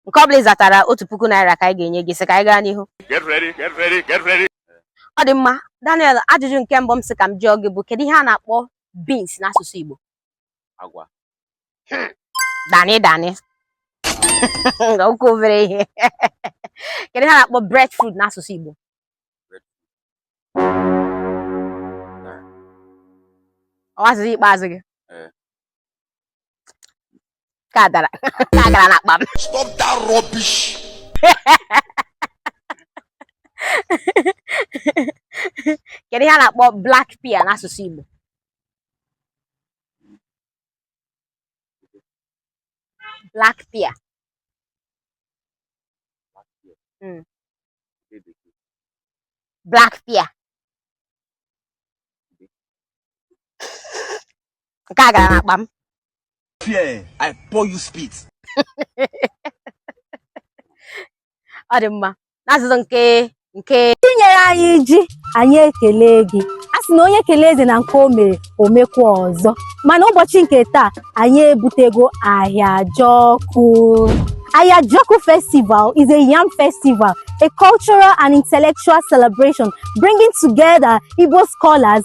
nke ọ bụla ị zatara otu puku naira ka anyị ga-enye gị sị ka anyị gaa n'ihu ọ dị mma Daniel ajụjụ nke mbụ m sị ka m jụọ gị bụ kedu ihe a na-akpọ beans n'asụsụ Igbo agwa dani dani ọ kwa obere ihe kedu ihe a na-akpọ breadfruit n'asụsụ Igbo ọ wụ azịza ikpeazụ gị ọ dara nke a gara n'akpa m Stop that rubbish. kedu ihe a na-akpọ black pear n'asụsụ Igbo black pear Mm. black pear nke a gara n'akpa m ọ dị mma n'azụzụ nke nke tinyere anyị ji anyị ekele gị a sị na onye kelee eze na nke o mere o mekwa ọzọ mana ụbọchị nke taa anyị ebutego Ahịajọkụ Ahịajọkụ festival is a yam festival a cultural and intellectual celebration bringing together igbo scholars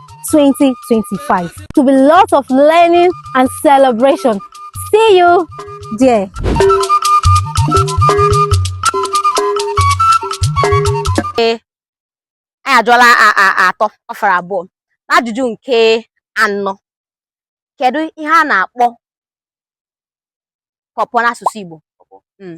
2025. It will be lots of learning and celebration. See you there. anyị ajụọla atọ ọ fọrọ abụọ n'ajụjụ nke anọ kedu ihe a na-akpọ pawpaw n'asụsụ Igbo hmm.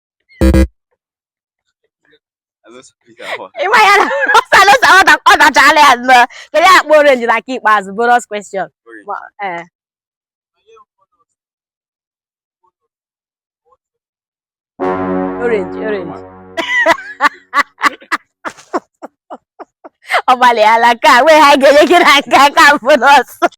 ịma ya na ọsalosa ọ dachala ya na kedu ihe a na-akpọ orange na nke ikpeazụ bonus question ee orange orange ọ gbalịala ka nwee ihe a ga-enye gị na nke a ka bonus